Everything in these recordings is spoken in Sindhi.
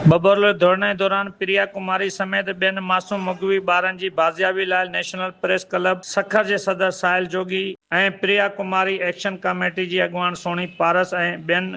ٻٻرلي ڌرڻي دوران پريا ڪماري سميت ٻين معصوم مغوي ٻارن جي بازيابي لاء نيشنل پريس ڪلب سکر جي صدر ساحل جوڳي ۽ پريا ڪماري ايڪشن ڪاميٽي جي اڳواڻ سهڻي پارس ۽ ٻين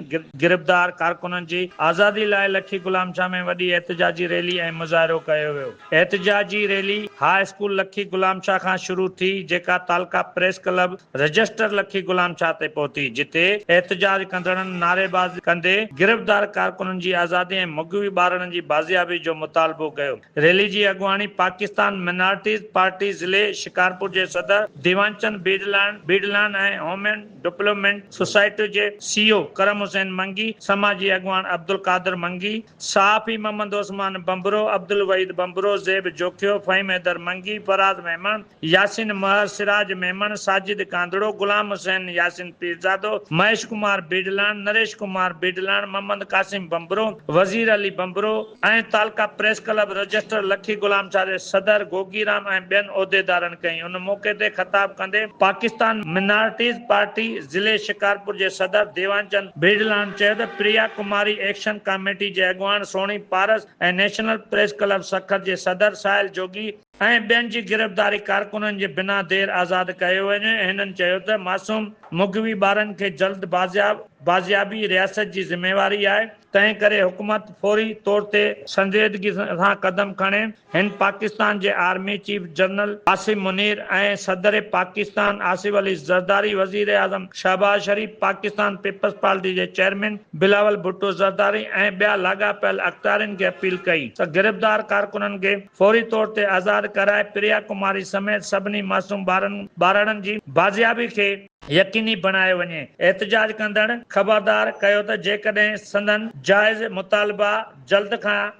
گرفتار ڪارڪنن جي آزادي لاء لکي غلام شاهه ۾ وڏي احتجاجي ريلي ۽ مظاهرو ڪيو ويو. احتجاجي rally high school Lakhi Ghulam Shah کان شروع ٿي جيڪا تعلقه پريس ڪلب رجسٽر لکي غلام شاهه تي پهتي جتي احتجاج ڪندڙن نعريبازي ڪندي گرفتار ڪارڪنن جي آزادي ۽ مغوي ٻارڙن جي بازيابي جو مطالبو ڪيو ريلي جي اڳواڻي پاڪستان منارٽيز پارٽي ضلعي شڪارپور جي صدر ديوانچند بيڊلاڻ بيڊلاڻ ۽ هومين ڊپلومينٽ سوسائٽي جي سي او ڪرم حسين منگي سماجي اڳواڻ عبدالقادر منگي صحافي محمد عثمان ڀنڀرو، عبدالوحيد ڀنڀرو، زيب جوکيو، فهيم حيدر منگي، فراز ميمڻ، ياسين مهر، سراج ميمڻ، ساجد ڪانڌڙو، غلام حسين، ياسين پيرزادو، مهيش ڪمار بيڊلاڻ، نريش ڪمار بيڊلاڻ، محمد قاسم ڀنڀرو، وزير علي ڀنڀرو، ۽ تعلقه پريس ڪلب رجسٽر لکي غلام شاهه جي صدر گوگي رام ۽ ٻين عهديدارن ڪئي ان موقعي تي خطاب ڪندي پاڪستان منارٽيز پارٽي ضلعي شڪارپور جي صدر ديوان چند برجلاڻ چيو ته پريا ڪماري ايڪشن ڪاميٽي جي اڳواڻ Sohni Paras ۽ national press club Sukkur جي صدر ساحل جوڳي ۽ ٻين جي گرفتاري ڪارڪنن جي بنا دير آزاد ڪيو وڃي هنن چيو ته معصوم مغوي ٻارن کي جلد بازياب بازيابي رياست جي ذميواري آهي تنهن ڪري حڪومت فوري طور تي سنجيدگي سان قدم کڻي هن پاڪستان جي army chief general Asim Munir ۽ صدر پاڪستان آصف علي زرداري، وزيراعظم شهباز شريف، پاڪستان پيپلز پارٽي جي چيئرمين بلاول ڀٽو زرداري ۽ ٻيا لاڳاپيل اختيارين کي اپيل ڪئي ته گرفتار ڪارڪنن کي فوري طور تي آزاد ڪرائي پريا ڪماري سميت سڀني معصوم ٻارن ٻارڙن جي بازيابي کي يقيني بڻايو وڃي. احتجاج ڪندڙن خبردار ڪيو ته جيڪڏهن سندن جائز مطالبا جلد کان.